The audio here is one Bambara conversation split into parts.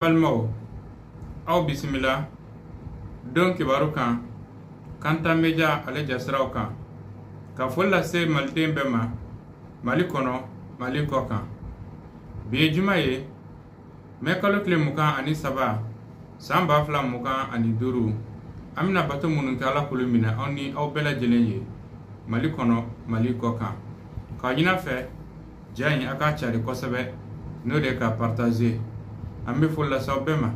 balimaw aw bisimila don kibaru kan kanta meja ale jasiraw kan ka foli lase maliden bɛɛ ma mali kɔnɔ mali kɔ kan bi ye juma ye mɛ kalo tile mugan ani saba san ba fila mugan ani duuru an bɛna bato minnu kɛ ala k'olu minɛ an ni aw bɛɛ lajɛlen ye mali kɔnɔ mali kɔ kan k'a ɲin'a fɛ ja in a k'a cari kosɛbɛ n'o de k'a partaze an bɛ foli lase aw bɛɛ ma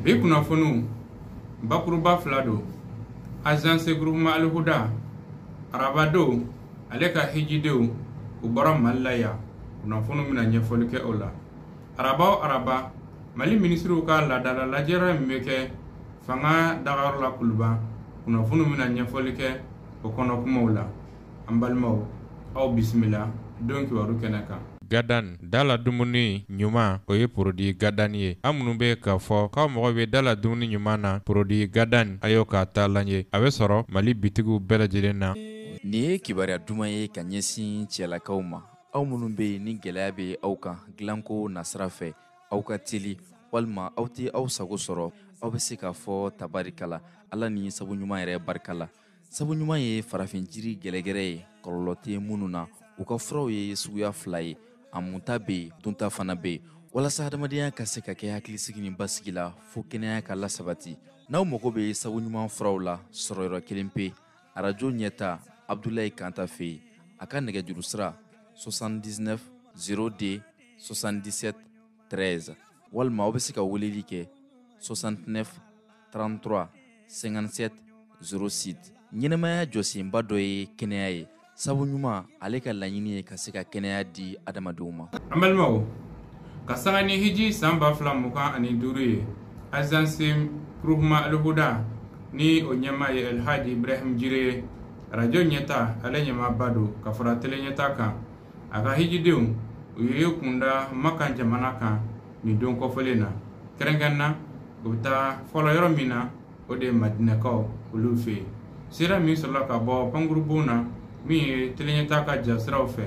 bi kunnafoniw bakuruba fila don azanse gurupuma alihuda araba don ale ka hijidenw u bɔra mali la yan kunnafoniw bɛna ɲɛfɔli kɛ o la araba o araba mali minisiriw ka laadala lajɛrɛ min bɛ kɛ fanga dagayɔrɔ la kuluba kunnafoniw bɛna ɲɛfɔli kɛ o kɔnɔkumaw la an balimaw aw bisimila don kibaru kɛnɛ kan gadan da la dumuni ɲuman o ye porodi gadan ye an minnu bɛ k'a fɔ k'aw mago bɛ da la dumuni ɲuman na porodi gadan a y'o k'a taalan ye a bɛ sɔrɔ mali bitigiw bɛɛ lajɛlen na nin ye kibaruya duman ye ka ɲɛsin cɛlakaw ma aw minnu bɛ yen ni gɛlɛya bɛ aw kan dilanko nasira fɛ aw ka teli walima aw tɛ aw sago sɔrɔ aw bɛ se k'a fɔ tabarikala ala ni sabu ɲuman yɛrɛ barika la sabu ɲuman ye farafin jiri gɛrɛgɛrɛ ye kɔlɔlɔ tɛ minnu na u ka furaw ye suguya fila ye a munta bɛ yen dunta fana bɛ yen walasa hadamadenya ka se ka kɛ hakilisigi ni basigi la fo kɛnɛya ka lasabati n'aw mago bɛ sabu ɲuman furaw la sɔrɔyɔrɔ kelen pe arajo ɲɛta abdulayi kanta fɛ yen a ka nɛgɛjuru sira 79 02 77 13 walima aw bɛ se ka weleli kɛ 69 33 57 06 ɲɛnamaya jɔsenba dɔ ye kɛnɛya ye sabu ɲuman ale ka laɲini ye ka se ka kɛnɛya di adamadenw ma an balimaw ka sanga ni hiji san ba fila mugan ani duuru ye azanse gurupuma alihuda ni o ɲɛmaa ye alhaji ibrahim jire ye arajo ɲɛta ale ɲɛmaaba don ka fara tele ɲɛta kan a ka hijidenw u y'u kun da makan jamana kan nin don kɔfɔlen na kɛrɛnkɛrɛn na u bɛ taa fɔlɔ yɔrɔ min na o de ye madinakaw olu fɛ yen sira min sɔrɔla ka bɔ pankurunbon na min ye teleɲɛta ka jasiraw fɛ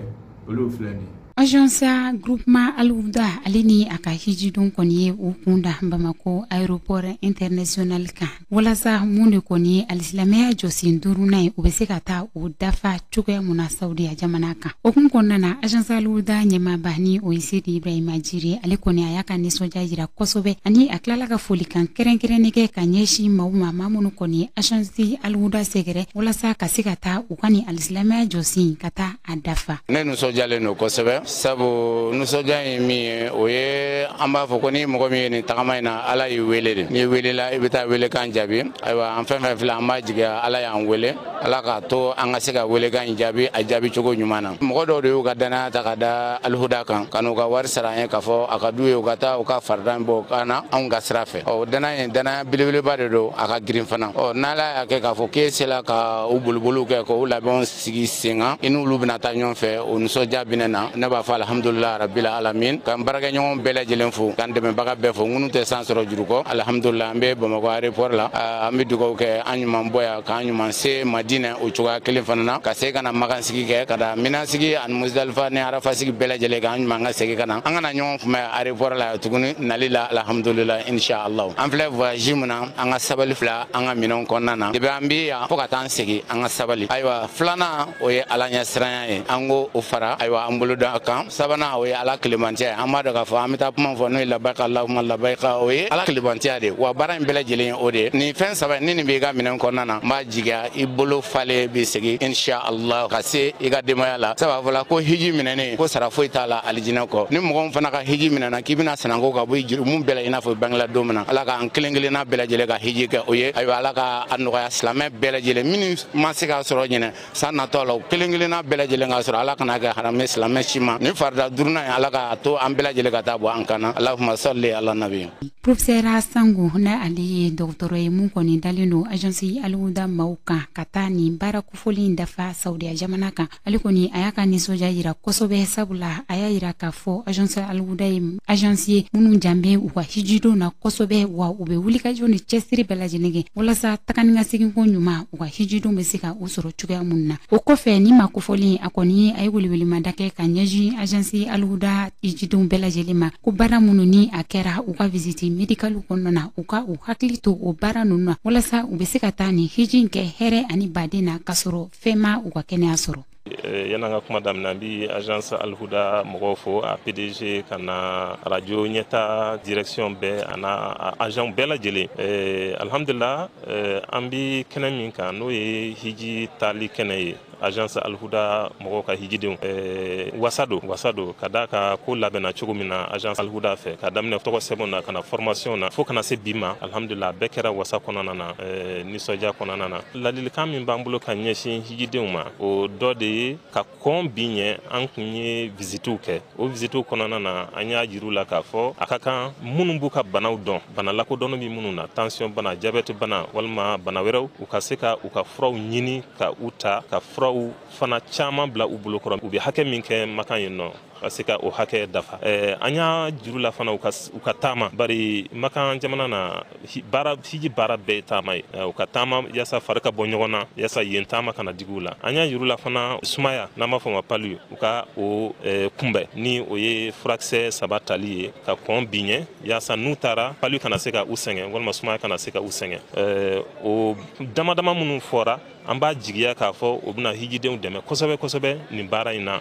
olu filɛ nin ye Agence groupement Alihuda ale ni a ka hijiden kɔni ye u kun da Bamakɔ aéroport international kan. walasa mun de kɔni ye alisilamɛya jɔsen duurunan ye u bɛ se ka taa o dafa cogoya mun na saudiya jamana kan o hukumu kɔnɔna na azansi alihuda ɲɛmaaba ni o ye sedi ibrahima jire ale kɔni a y'a ka nisɔndiya jira kosɛbɛ ani a tilala ka folikan kɛrɛnkɛrɛnnen kɛ ka ɲɛsin maaw ma maa minnu kɔni ye azansi alihuda sɛgɛrɛ walasa ka se ka taa u ka nin alisilamɛya jɔsen ka taa a dafa ne nusɔjalen don kosɛbɛ sabu nusɔja ye min ye o ye an b'a fɔ ko ni mɔgɔ min ye nin tagama in na ala y'i wele de n'i welela i bɛ taa welekan jaabi ayiwa an fɛn fɛn filɛ an b'a jigiya ala y'an wele ala k'a to an ka se ka welekan in jaabi a jaabi cogo ɲuman na mɔgɔ dɔw de y'u ka dannaya ta ka da alihuda kan ka n'u ka wari sara an ye k'a fɔ a ka d'u ye u ka taa u ka farida bɔ ka na anw ka sira fɛ ɔ dannaya in dannaya belebeleba de don a ka girin fana ɔ n'ala y'a kɛ k'a fɔ k'e sela ka u boliboliw kɛ k'u labɛnw sigi sen kan i n'olu bena taa ɲɔgɔn fɛ o nisɔndiya bi ne na ne b'a fɔ alhamdulila rabil alamin k'an baarakɛɲɔgɔn bɛɛ lajɛlen fo k'an dɛmɛbaga bɛɛ fo ŋunu tɛ san sɔrɔ juru kɔ alhamdulila an be bamakɔ arepɔr la an be dugaw kɛ an ɲuman bɔ yan k'an ɲuman se madinɛ o cogoya kelen fana na ka se ka na makansigi kɛ ka da minasigi ani musdalifa ni arafasigi bɛɛ lajɛlen k'an ɲuman ka segi ka na an ka na ɲɔgɔn kunbɛn arepɔr la tuguni nali la alhamdulila inshallah an filɛ voyage mun na an ka sabali bila an ka minɛnw kɔnɔna na depi an be yan fɔɔ ka taa segin an ka sabali ayiwa filanan o ye ala ɲɛsiranya ye an k'o fara ayiwa an bolo da kan sabanan o ye ala kelebanciya ye an b'a dɔn k'a fɔ an be taa kuma fɔ n'o ye labayika lahuma labayika o ye ala kelebanciya de wa baara in bɛɛ lajɛlen ye o de ye nin fɛn saba ni nin b'i ka minɛn kɔnɔna na n b'a jigiya i bolo falen be segin insha allah ka se i ka denbaya la sabu a fɔla ko hiji minɛnen ko sara foyi t'a la alijinɛ kɔ ni mɔgɔ fana ka hiji minɛna k'i bɛna sananko ka bɔ i jurumu bɛɛ la i n'a fɔ bangela don min na ala k'an kelen kelenna bɛɛ lajɛlen ka hiji kɛ o ye ayiwa ala ka a nɔgɔya silamɛ bɛɛ lajɛlen minnu ma se k'a sɔrɔ ɲinɛ san natɔ la u kelen kelenna bɛɛ lajɛlen k'a sɔrɔ ala kan'a kɛ haramɛ silamɛ si ma nin farida duurunan ye ala k'a to an bɛɛ lajɛlen ka t'a bɔ an kan na alahuma salli ala nabi profesɛra sango na ale ye dɔgɔtɔrɔ ye mun kɔni dalen don agence alihuda maaw kan ka taa nin baara kofɔlen dafa saudiya jamana kan ale kɔni a y'a ka nisɔndiya yira kosɛbɛ sabula a y'a yira k'a fɔ agence alhuda ye agence ye minnu jan bɛ u ka hijidenw na kosɛbɛ wa u bɛ wulikajɔ ni cɛsiri bɛɛ lajɛlen kɛ walasa taga ni ka seginko ɲuman u ka hijidenw bɛ se ka u sɔrɔ cogoya minnu na o kɔfɛ nin maa kofɔlen a kɔni a ye welewelemada kɛ ka ɲɛsin agence alhuda hijidenw bɛɛ lajɛlen ma ko baara minnu ni a kɛra u ka visiti medikaliw kɔnɔna na u ka u hakili to o baara ninnu na walasa u bɛ se ka taa nin hiji kɛ hɛrɛ ani baden na ka sɔrɔ fɛn ma u ka kɛnɛya sɔrɔ eh, yan'an ka kuma daminɛ an bi agence alhuda mɔgɔw fo a pdg ka na radio ɲɛta direction bɛɛ an'a agent bɛɛ lajɛlen eh, alhamdulila eh, an bi kɛnɛ min kan n'o ye hiji taali kɛnɛ ye agence alhuda mɔgɔw ka hijidenw eh, wasa don wasa don ka d'a kan ko labɛnna cogo min na agence alhuda fɛ ka daminɛ tɔgɔ sɛbɛn na ka na formation na fo ka na se bi ma alhamdulila bɛɛ kɛra wasa kɔnɔna na eh, nisɔndiya kɔnɔna na Ladilikan min b'an bolo ka ɲɛsin hijidenw ma o dɔ de ye ka kɔn bi ɲɛ an kun ye visitew kɛ o visitew kɔnɔna na an y'a jir'u la k'a fɔ a ka kan minnu b'u ka banaw dɔn bana lakodɔnnen bɛ minnu na tansiyɔn bana jabɛti bana walima bana wɛrɛw u ka se ka u ka furaw ɲini ka u ta ka furaw fana caman bila u bolo kɔrɔ u bɛ hakɛ min kɛ makan yen nɔ ka se ka o hakɛ dafa eh, an y'a jir'u la fana u ka taama bari makan jamana na baara hiji baara bɛɛ taama ye eh, u ka taama yasa fari ka bɔ ɲɔgɔn na yasa yen taama kana digi u la an y'a jir'u la fana sumaya n'an b'a fɔ ma palu u ka o eh, kunbɛn ni o ye furakisɛ saba tali ye ka kɔn bi ɲɛ yasa n'u taara palu kana se ka u sɛgɛn walima sumaya kana se ka u sɛgɛn o dama dama minnu fɔra an b'a jigiya k'a fɔ o bɛna hijidenw dɛmɛ kosɛbɛ kosɛbɛ nin baara in na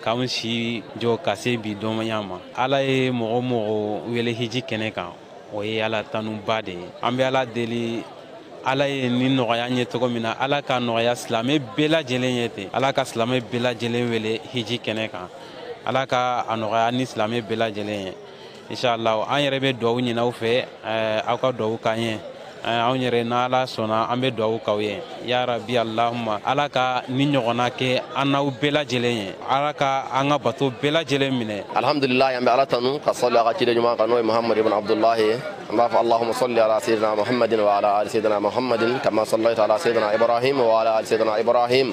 k'anw si jɔ ka se bi donba in ma ala ye mɔgɔ o mɔgɔ wele hiji kɛnɛ kan o ye ala tanuba de ye an bɛ ala deli ala ye nin nɔgɔya an ye cogo min na ala k'a nɔgɔya silamɛ bɛɛ lajɛlen ye ten ala ka silamɛ bɛɛ lajɛlen wele hiji kɛnɛ kan ala ka a nɔgɔya ni silamɛ bɛɛ lajɛlen ye inshallah an yɛrɛ bɛ dugawu ɲini aw fɛ eh, aw ka dugawu k'an ye eh, anw yɛrɛ n'ala sɔnna an bɛ dugawu k'aw ye ya rabi allahuma ala ka nin ɲɔgɔnna kɛ an n'aw bɛɛ lajɛlen ye ala ka an ka bato bɛɛ lajɛlen minɛ alhamdulilahi an bɛ ala tanu ka sɔli a ka ciden ɲuman kan n'o ye muhammadu ibn abdulahi ye an b'a fɔ allahuma sɔli ala sayidina muhammadin wa ala ali sayidina muhammadin kama sɔlaita ala sayidina ibrahim wa ala ali sayidina ibrahim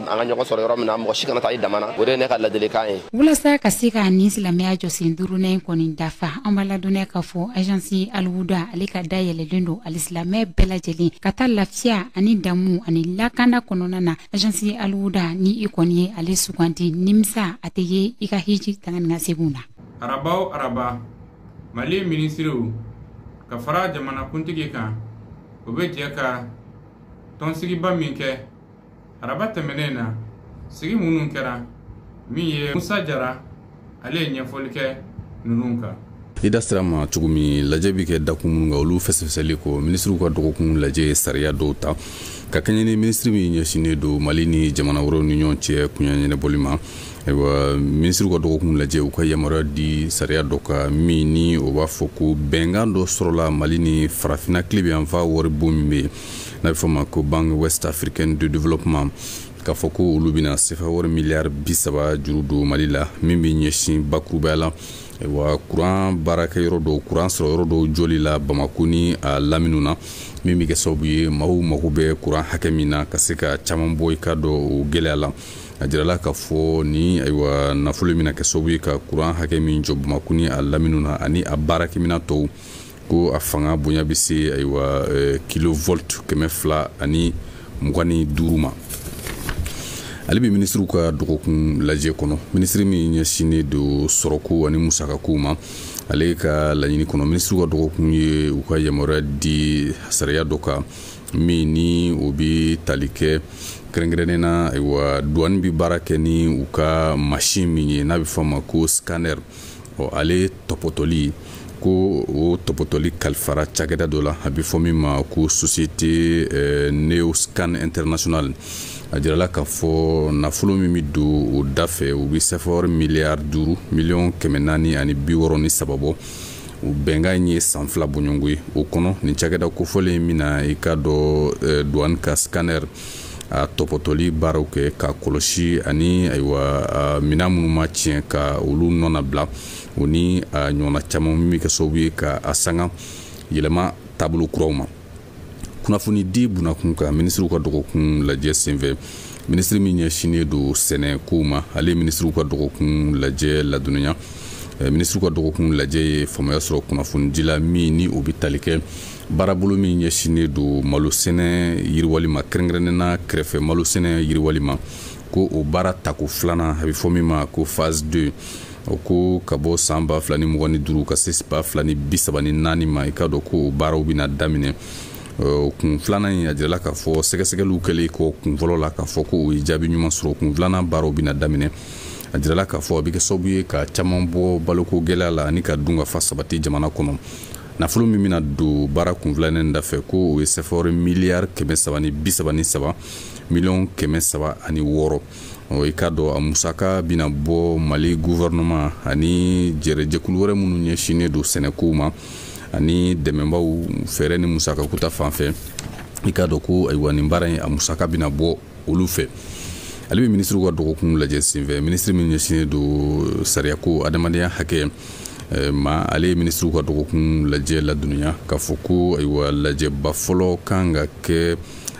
an ka ɲɔgɔn sɔrɔ yɔrɔ min na mɔgɔ si kana taa i dama na o de ye ne ka ladilikan ye walasa ka se ka nin silamɛya jɔsen duurunan kɔni dafa an b'a ladɔnniya k'a fɔ ajansi aliwuda ale ka da yɛlɛlen don alisilamɛ bɛɛ lajɛlen ka taa lafiya ani damu ani lakanda kɔnɔna na ajansi aliwuda ni i kɔni ye ale suganti nimisa a tɛ ye i ka hiji taga ni ka seginw na araba o araba mali minisiriw ka fara jamanakuntigi kan o bɛ jɛ ka tɔnsigiba min kɛ araba tɛmɛnen na sigi minnu kɛra min ye musa jara ale ye ɲɛfɔli kɛ ninnu kan i da sera a ma cogo min lajɛ bɛ kɛ dakun minnu kan olu fɛsɛfɛsɛli kɔ minisiriw ka dɔgɔkun lajɛ ye sariya dɔw ta ka kɛɲɛ ni minisiri min ɲɛsinnen don mali ni jamana wɛrɛw ni ɲɔgɔn cɛ koɲɛ ɲɛnabɔli ma ayiwa minisiriw ka dɔgɔkun lajɛ u ka yamaruya di sariya dɔ kan min ni o b'a fɔ ko bɛnkan dɔ sɔrɔla mali ni farafinna tilebin yanfan waribon min bɛ yen n'a bɛ fɔ ma ko banque ouest africaine de développement k'a fɔ ko olu bɛna sefa wari miliyari bi saba juru don mali la min bɛ ɲɛsin bakurubaya la ayiwa kuran baarakɛ yɔrɔ dɔw kuran sɔrɔ yɔrɔ dɔw jɔli la bamako ni a laminiw na min bɛ kɛ sababu ye maaw mago bɛ kuran hakɛ min na ka se ka caman bɔ i k'a dɔn o gɛlɛya la a jirala k'a fɔ nin ayiwa nafolo bɛna kɛ sababu ye ka kuran hakɛ min jɔ bamako ni a laminiw na ani a baarakɛminɛn tɔw ko a fanga bonya bɛ se ayiwa eh, kilovolt kɛmɛ fila ani mugan ni duuru ma halibi minisiriw ka dɔgɔkun lajɛ kɔnɔ minisiri min ɲɛsinnen don sɔrɔko ani musakakow ma ale ka laɲini kɔnɔ minisiriw ka dɔgɔkun ye u ka yamaruya di sariya dɔ kan min ni o bɛ tali kɛ kɛrɛnkɛrɛnnen na ayiwa duwani bɛ baara kɛ ni u ka masin min ye n'a bɛ fɔ a ma ko scanner ɔ ale tɔpɔtɔli ko o tɔpɔtɔli kalifara cakɛda dɔ la a bɛ fɔ min ma ko société euh, neoscan international a jirala k'a fɔ nafolo min bɛ don o da fɛ o bɛ sɛfawari miliyari duuru miliyɔn kɛmɛ naani ani bi wɔɔrɔ ni saba bɔ o bɛnkan in ye san fila bɔɲɔgɔnko ye o kɔnɔ nin cakɛda kofɔlen in bɛna i k'a dɔn euh, douane ka scanner a tɔpɔtɔli baaraw kɛ k'a kɔlɔsi ani ayiwa minɛn minnu mana tiɲɛ ka olu nɔnabila o ni a ɲɔgɔnna caman min bɛ kɛ sababu ye ka a sanga yɛlɛma taabolo kuraw ma kunnafoni di bunakun kan minisiriw ka dɔgɔkun lajɛ senfɛ minisiri min ɲɛsinnen don sɛnɛkow ma ale minisiriw ka dɔgɔkun lajɛ ladɔnniya minisiriw ka dɔgɔkun lajɛ ye faamuya sɔrɔ kunnafonidi la min ni o bɛ tali kɛ baarabolo min ɲɛsinnen don malosɛnɛ yiriwali ma kɛrɛnkɛrɛnnena kɛrɛfɛ malosɛnɛ yiriwali ma ko o baara tako filanan a bɛ fɔ min ma ko phase 2 o ko ka bɔ san ba fila ni mugan ni duuru ka se ba fila ni bi saba ni naani ma i k'a dɔn ko o baaraw bɛna daminɛ kun filanan in a jirala k'a fɔ sɛgɛsɛgɛliw kɛlen kɔ kun fɔlɔ la k'a fɔ ko o ye jaabi ɲuman sɔrɔ kun filanan baaraw bɛna daminɛ a jirala k'a fɔ a bɛ kɛ sababu ye ka caman bɔ baloko gɛlɛya la ani ka dunkafa sabati jamana kɔnɔ nafolo min bɛna don baara kun filanan in dafɛ ko o ye sɛfawari miliyari kɛmɛ saba ni bi saba ni saba miliyɔn kɛmɛ saba ani wɔɔrɔ i k'a dɔn a musaka bɛna bɔ mali guvɛrɛnɛman ani jɛrɛjɛkulu wɛrɛ minnu ɲɛsinnen don sɛnɛkow ma ani dɛmɛbaw fɛɛrɛ ni musakako ta fan fɛ i k'a dɔn ko ayiwa nin baara in a musaka bɛna bɔ olu fɛ halibi minisiriw ka dɔgɔkun lajɛ senfɛ minisiri min ɲɛsinnen don sariyako adamadenya hakɛ Eh, ma ale ye minisiriw ka dɔgɔkun lajɛ ladɔnniya k'a fɔ ko ayiwa lajɛba fɔlɔ kan ka kɛ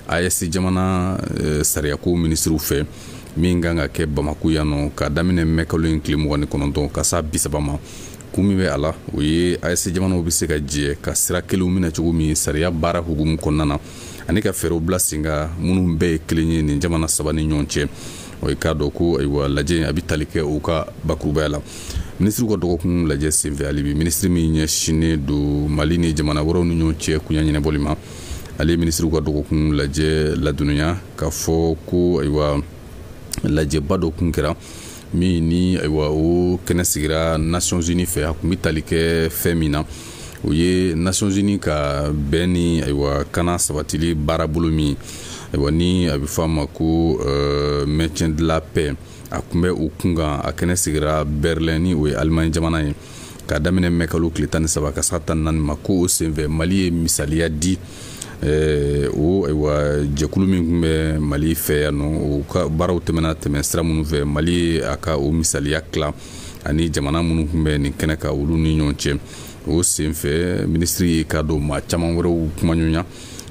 aes jamana eh, sariyako minisiriw fɛ min kan ka kɛ bamako yan nɔ k'a daminɛ mɛ kalo in tile mugan ni kɔnɔntɔn ka s'a bisaba ma kun min bɛ a la o ye aes jamanaw bɛ se ka jɛ ka sira kelenw minɛ cogo min sariya baara hukumu kɔnɔna na ani ka fɛɛrɛw bila sen kan minnu bɛɛ ye kelen ye nin jamana saba ni ɲɔgɔn cɛ o i k'a dɔn ko ayiwa lajɛ a bɛ tali kɛ u ka bakurubaya la minisiriw ka dɔgɔkun lajɛ senfɛ halibi minisiri min ɲɛsinnen don mali ni jamana wɛrɛw ni ɲɔgɔn cɛ koɲa ɲɛnabɔli ma ale ye minisiriw ka dɔgɔkun lajɛ ladɔnniya k'a fɔ ko ayiwa lajɛba dɔ kun kɛra min ni ayiwa o kɛnɛ sigira nations unies fɛ a tun bɛ tali kɛ fɛn min na o ye nations unies ka bɛn ni ayiwa kana sabatili baarabolo min ayiwa ni a bɛ fɔ a ma ko euh, maintien de la paix a tun bɛ o kunkan a kɛnɛ sigira berlin ni o ye alimaɲi jamana ye k'a daminɛ mɛ kalo tile tan ni saba ka s'a tan naani ma ko o senfɛ mali ye misaliya di eh, o ayiwa jɛkulu min tun bɛ mali fɛ yan nɔ o ka baaraw tɛmɛna tɛmɛ sira minnu fɛ mali ye a ka o misaliya tila ani jamana minnu tun bɛ nin kɛnɛ kan olu ni ɲɔgɔn cɛ o senfɛ minisiri y'i k'a dɔn maa caman wɛrɛw kumaɲɔgɔnya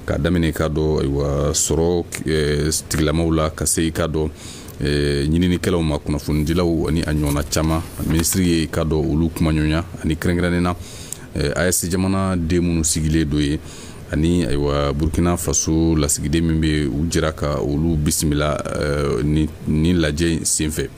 ka daminɛ k'a dɔn ayiwa sɔrɔ eh, tigilamaw la ka se i k'a dɔn eh, ɲininikɛlaw ma kunnafonidilaw ani a ɲɔgɔnna caman minisiri y'i k'a dɔn olu kumaɲɔgɔnya ani kɛrɛnkɛrɛnnen na eh, aes jamana den minnu sigilen don yen ani ayiwa burkina faso lasigiden min bɛ u jɛra ka olu bisimila eh, nin lajɛ in senfɛ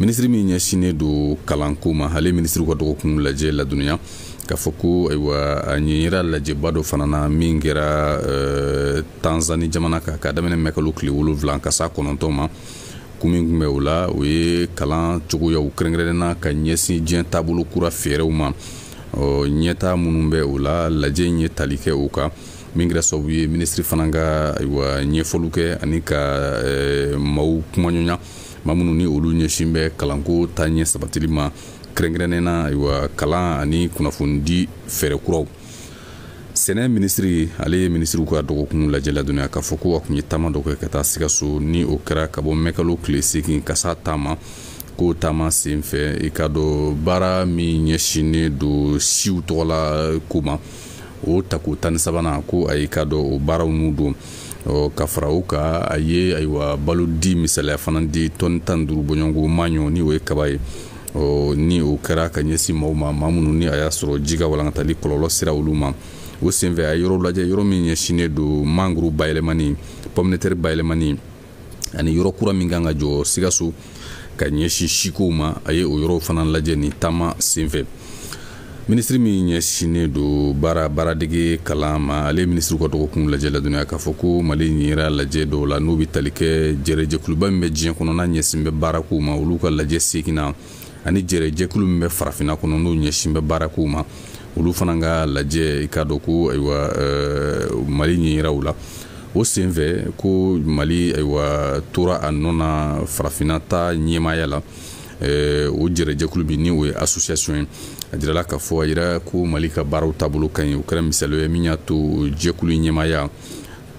minisiri min ɲɛsinnen don kalanko ma ale minisiriw ka dɔgɔkun lajɛ ladɔnniya k'a fɔ ko ayiwa a ɲɛyira lajɛba dɔ fana na min kɛra eh, tanzani jamana kan ka daminɛ mɛkalo tile wolonwula ka s'a kɔnɔntɔn ma kun min tun bɛ o la o ye kalan cogoyaw kɛrɛnkɛrɛnnenna ka ɲɛsin diɲɛ taabolo kura fɛɛrɛw ma ɲɛtaa minnu bɛ o la lajɛ in ye tali kɛ o kan min kɛra sababu ye minisiri fana ka ayiwa ɲɛfɔliw kɛ ani ka eh, maaw kumaɲɔgɔnya maa minnu ni olu ɲɛsin bɛ kalanko taaɲɛ sabatili ma kɛrɛnkɛrɛnnen na ayiwa kalan ani kunnafonidi fɛɛrɛ kuraw sɛnɛ minisiri ale ye minisiriw ka dɔgɔkun lajɛ ladɔnniya k'a fɔ ko a tun ye taama dɔ kɛ ka taa sikaso ni o kɛra ka bɔ mɛkalo tile segin ka s'a tan ma ko o taama senfɛ i k'a dɔn baara min ɲɛsinnen don siw tɔgɔla ko ma o tako tan ni sabanan ko a y'i k'a dɔn o baaraw nun don ka fara o kan a ye ayiwa balo di misaliya fana di tɔni tan duuru bɔɲɔgɔnko maɲɔ ni o ye kaba ye ni o kɛra ka ɲɛsin maaw ma maa minnu ni a y'a sɔrɔ ji ka walankatali kɔlɔlɔ sera olu ma o senfɛ a ye yɔrɔ lajɛ yɔrɔ min ɲɛsinnen don mangoro bayɛlɛmani pɔminɛtɛri bayɛlɛmani ani yɔrɔ kura min kan ka jɔ sikaso ka ɲɛsin sikow ma a ye o yɔrɔw fana lajɛ nin taama senfɛ minisiri min ɲɛsinnen don baara baaradege kalan ma ale minisiriw ka dɔgɔkun lajɛ ladɔnniya k'a fɔ ko mali ɲɛyira lajɛ dɔw la n'u bɛ tali kɛ jɛrɛjɛkuluba min bɛ diɲɛ kɔnɔ n'a ɲɛsin bɛ baarakow ma olu ka lajɛ seginnan ani jɛrɛjɛkulu min bɛ farafinna kɔnɔ n'o ɲɛsin bɛ baarakow ma olu fana ka lajɛ i k'a dɔn ko ayiwa mali ɲɛyira u la o senfɛ ko mali ayiwa tora a nɔ na farafinna ta ɲɛmaaya la o jɛrɛjɛkulu min ni o ye association ye a jirala k'a fɔ a yira ko mali ka baaraw taabolo ka ɲi o kɛra misaliya ye min y'a to jɛkulu ɲɛmaaya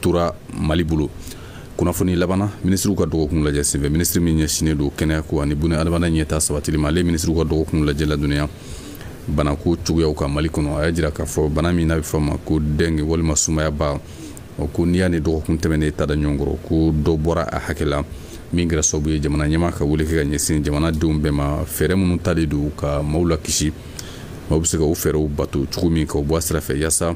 tora mali bolo kunnafoni laban na minisiriw ka dɔgɔkun lajɛ senfɛ minisiri min ɲɛsinnen don kɛnɛya ko ani buna adamaden ɲɛtaa sabatili ma ale minisiriw ka dɔgɔkun lajɛ ladɔnniya banako cogoyaw kan mali kɔnɔ a y'a jira k'a fɔ bana min n'a bɛ fɔ ma ko dɛnge walima sumayaba ko n'i y'a ni dɔgɔkun tɛmɛnen ta da ɲɔgɔn kɔrɔ ko dɔ bɔra a hakɛ la min kɛra sababu ye jamana ɲɛmaa ka wele kɛ ka ɲɛsin jamanadenw bɛɛ ma fɛɛrɛ minnu talen don ka maaw lakisi maaw bɛ se ka o fɛɛrɛw bato cogo min k'u bɔ a sira fɛ yaasa